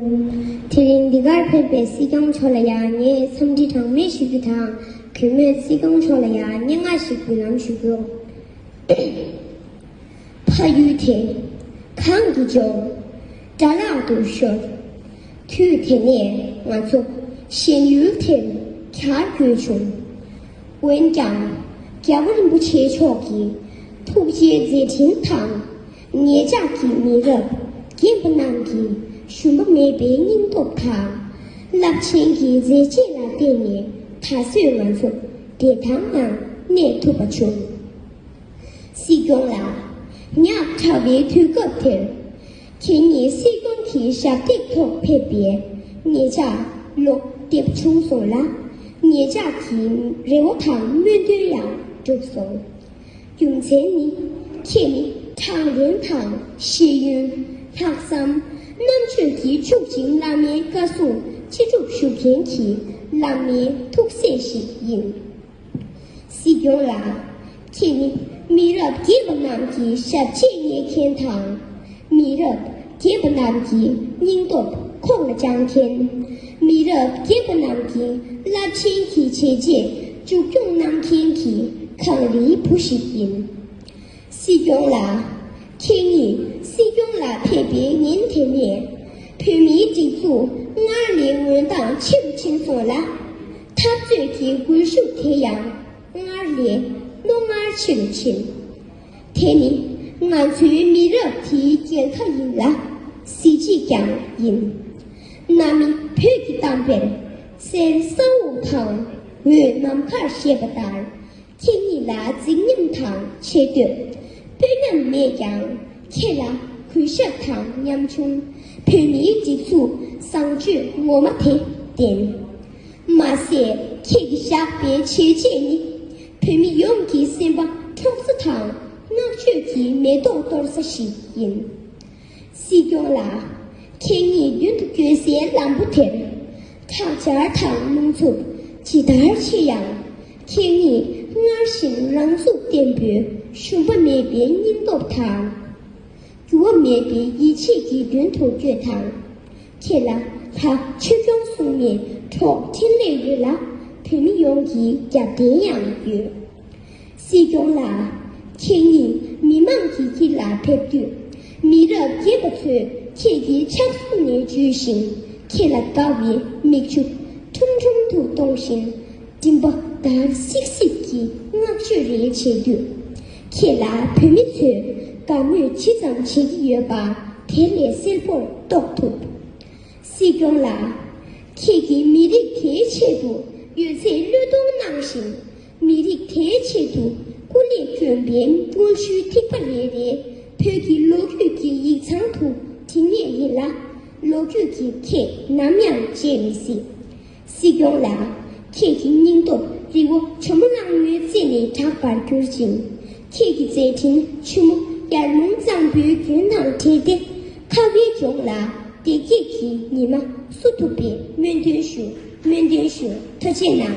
དེ་རིང་འདི་གར་ཕེབས་པའི་སྲིད་སྐྱོང་མཆོག་ལ་ཡང་ངས་འཚམས་འདྲི་གྲངས་མེད་ཞུ་རྒྱུ་དང་གུས་མོས་སྲིད་སྐྱོང་མཆོག་ལ་ཡང་སྙན་ངག་ཞིག་འབུལ་ལམ་ཞུ་རྒྱུ། ཕ་ཡུལ་དེ་གང་དུ་འབྱོར། དགྲ་ལག་ཏུ་ཤོར། དུས་དེ་ནས་ང་ཚོ་གཞན་ཡུལ་དེར་གྱར་དགོས་བྱུང། འོན་ཀྱང་རྒྱལ་བ་རིན་པོ་ཆེ་མཆོག་གི་ཐུགས་རྗེའི་མཛད་འཕྲིན་དང་ངེད་ཅག་གི་མི་རབས་རྒན་པོ་རྣམས་ཀྱིས་ཞུམ་པ་མེད་པའི་སྙིང་སྟོབས་དང། རླབས་ཆེན་གྱི་མཛད་རྗེས་ལ་བརྟེན་ནས་ད་གཟོད་ང་ཚོ་བདེ་ཐང་ངང་གནས་ཐུབ་པ་བྱུང། སྲིད་སྐྱོང་ལགས། ཉག་ཕྲ་བའི་དུས་སྐབས་དེར། ཁྱེད་ཉིད་སྲིད་སྐྱོང་གི་ཞབས་སྟེགས་ཐོག་ཕེབས་པས་ངེད་ཅག་བློ་བདེ་བྱུང་སོང་ལ། ངེད་ཅག་གི་རེ་བ་དང་སྨོན་འདུན་ཡང་འགྲུབ་སོང། རྒྱུ་མཚན་ནི། ཁྱེད་ནི་དྲང་བདེན་དང་ཤེས་ཡོན། ལྷག་བསམ། རྣམ་དཔྱོད་ཀྱིས་ཕྱུག་ཅིང་བླ་མའི་བཀའ་སྲུང་ཅི་སྒྲུབ་ཞུ་མཁན་གྱི་བླ་མའི་ཐུགས་སྲས་ཤིག་ཡིན། སྲིད་སྐྱོང་ལགས། ཁྱེད་ནི་མི་རབས་རྒས་པ་རྣམས་ཀྱི་ཞབས་རྗེས་བསྙེག་མཁན་དང། མི་རབས་རྒས་པ་རྣམས་ཀྱི་སྙིང་སྟོབས་ཁོག་ལ་བཅངས་མཁན། མི་རབས་རྒས་པ་རྣམས་ཀྱི་རླབས་ཆེན་གྱི་བྱས་རྗེས་མཇུག་སྐྱོང་གནང་མཁན་གྱི་གངས་རིའི་བུ་ཞིག་ཡིན། སྲིད་སྐྱོང་ལགས། ཁྱེད་ཉིད་སྲིད་སྐྱོང་ལ་ཕེབས་པའི་ཉིན་དེ་ནས་བོད་མིའི་སྒྲིག་འཛུགས་སྔར་ལས་འོད་མདངས་ཆེ་རུ་ཕྱིན་སོང་ལ། འཐབ་རྩོད་ཀྱི་སྒུལ་ཤུགས་དེ་ཡང་སྔར་ལས་རྣོ་ངར་ཆེ་རུ་ཕྱིན། དེ་ནི་ང་ཚོའི་མི་རབས་དེའི་རྒྱལ་ཁ་ཡིན་ལ་གཟི་བརྗིད་ཀྱང་ཡིན། གནའ་མི་བོད་ཀྱི་གཏམ་དཔེར་གསེར་ས་འོག་དང་འོད་ནམ་མཁར་ཞེས་པ་ལྟར་ཁྱེད་གཉིས་ལ་རྫིག་ཉམས་དང་ཆེ་བསྟོད་དཔོན་ཉམས་མེད་ཀྱང་ཁྱེད་ལ་གུས་ཞབས་དང་ཉམ་ཆུང་བོད་མིའི་སྒྲིག་འཛུགས་བཟང་སྤྱོད་ངོ་མ་དེ་ལྡན། མ་ཟད་ཁྱེད་ཀྱིས་བཞག་པའི་བྱས་རྗེས་ནི་བོད་མི་ཡོངས་ཀྱི་སེམས་པ་འཕྲོག་ས་དང་བསྔགས་བརྗོད་ཀྱི་མེ་ཏོག་གཏོར་ས་ཞིག་ཡིན། སྲིད་སྐྱོང་ལགས། ཁྱེད་ཉིད་མདུན་དུ་བསྐྱོད་སའི་ལམ་བུ་དེར་ཁྲག་སྦྱར་དང་རླུང་འཚུབ་ཇི་ལྟར་ཆེ་ཡང་ཁྱེད་ཉིད་སྔར་བཞིན་རང་ཚུགས་བརྟན་པོས་ཞུམ་པ་མེད་པའི་སྙིང་སྟོབས་དང། འགྱུར་བ་མེད་པའི་ཡིད་ཆེས་ཀྱིས་མདུན་དུ་བསྐྱོད་དང། ཁྱེད་ལ་ད་ཕྱི་གསུམ་གསུམ་ནས་འཕྲོག་འཕྲེང་ལས་ཡོད་ལ་བོད་མི་ཡོངས་ཀྱི་རྒྱབ་རྟེན་ཡང་ཡོད། སྲིད་སྐྱོང་ལགས། ཁྱེད་ཉིད་མི་མང་གི་དཀྱིལ་ལ་ཕེབས་དུས། མི་རབས་རྒས་པ་ཚོས་ཁྱེད་ཀྱི་ཕྱག་ཟུང་ནས་འཇུས་ཤིང་ཁྱེད་ལ་དགའ་བའི་མིག་ཆུ་ཁྲུམ་ཁྲུམ་དུ་གཏོང་བཞིན། མགྲིན་པ་འདར་སིག་སིག་གིས་བསྔགས་བརྗོད་རེ་བྱེད་དུས། ཁྱེད་ལ་བོད་མི་ཚོས་དགའ་མོས་ཇི་ཙམ་བྱེད་ཀྱི་ཡོད་པ་དེ་ལས་གསལ་པོར་རྟོགས་ཐུབ། སྲིད་སྐྱོང་ལགས། ཁྱེད་ཀྱིས་མི་རིགས་དེའི་ཆེད་དུ་ཡོད་ཚད་བློས་གཏོང་གནང་བཞིན། མི་རིགས་དེའི་ཆེད་དུ་སྐུ་ལས་བསྐྱོན་པའི་དངོས་གཞིའི་ཐིགས་པ་རེ་རེ་བོད་ཀྱི་ལོ་རྒྱུས་ཀྱི་ཡིག་ཚང་དུ་བྲིས་ངེས་ཡིན་ལ། ལོ་རྒྱུས་ཀྱིས་ཁྱེད་ནམ་ཡང་བརྗེད་མི་སྲིད། སྲིད་སྐྱོང་ལགས། ཁྱེད་ཀྱི་སྙིང་སྟོབས་རྫི་བོ་ཆུ་མོ་གླང་མོའི་རྩེ་ནས་གྲགས་པར་གྱུར་ཅིང། ཁྱེད་ཀྱི་མཛད་འཕྲིན་ཆུ་མོ་ཡར་ལུང་གཙང་པོའི་རྒྱུན་དང་འབྲེལ་ཏེ། ཁ་བའི་ལྗོངས་ལ་བདེ་སྐྱིད་ཀྱི་ཉི་མ་བསུ་ཐུབ་པའི་སྨོན་འདུན་ཞུ་སྨོན་འདུན་ཞུ་ཐུ་ཆེ་གནང།